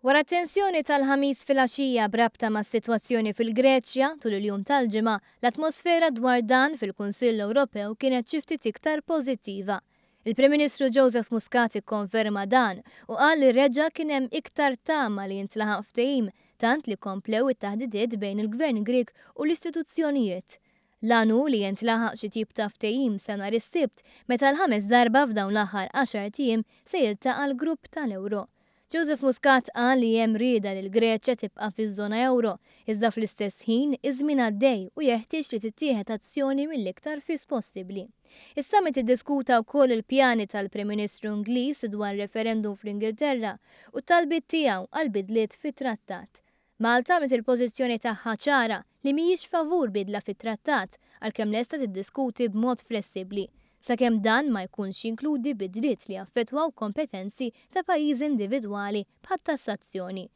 Wara t-tensjoni tal-Ħamis filgħaxija b'rabta mas-sitwazzjoni fil-Greċja, tul il-jum tal-Ġimgħa, l-atmosfera dwar dan fil-Kunsill Ewropew kienet xi ftit iktar pożittiva. Il-Prim Ministru Joseph Muscat ikkonferma dan u qal li reġa' kien hemm iktar tama li jintlaħaq ftehim tant li komplew it-taħdidiet bejn il-Gvern Grieg u l-istituzzjonijiet L-għan hu li jintlaħaq xi tip ta' ftehim sa nhar is-Sibt meta għal ħames darba f'dawn l-aħħar għaxart ijiem se jiltaqa' l-grupp tal-euro. Joseph Muscat qal li hemm rieda li l-Greċja tibqa' fiż-żona euro, iżda fl-istess ħin iż-żmien għaddej u jeħtieġ li tittieħed azzjoni mill-iktar fis possibbli. Is-summit iddiskuta wkoll il-pjani tal-Prim Ministru Ingliż dwar referendum fl-Ingilterra u t-talbiet tiegħu għal bidliet fit-trattat. Malta għamlet il-pożizzjoni tagħha ċara li mhijiex favur bidla fit-Trattat, għalkemm lesta tiddiskuti b'mod flessibbli, sakemm dan ma jkunx jinkludi bidliet li jaffettwaw kompetenzi ta' pajjiżi individwali bħat-tassazzjoni.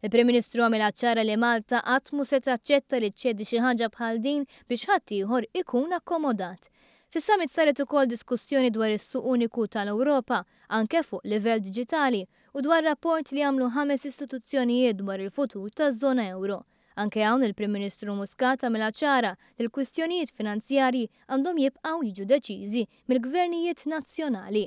Il-Prim Ministru għamilha ċara li Malta qatt mhu se taċċetta li ċċedi xi ħaġa bħal din biex ħaddieħor ikun akkomodat. Fis-summit saret ukoll diskussjoni dwar is-Suq Uniku tal-Ewropa, anke fuq livell diġitali, u dwar rapport li għamlu ħames istituzzjonijiet dwar il-futur taż-żona euro. Anke hawn il-Prim Ministru Muscat għamilha ċara li l-kwistjonijiet finanzjarji għandhom jibqgħu jiġu deċiżi mill-gvernijiet nazzjonali.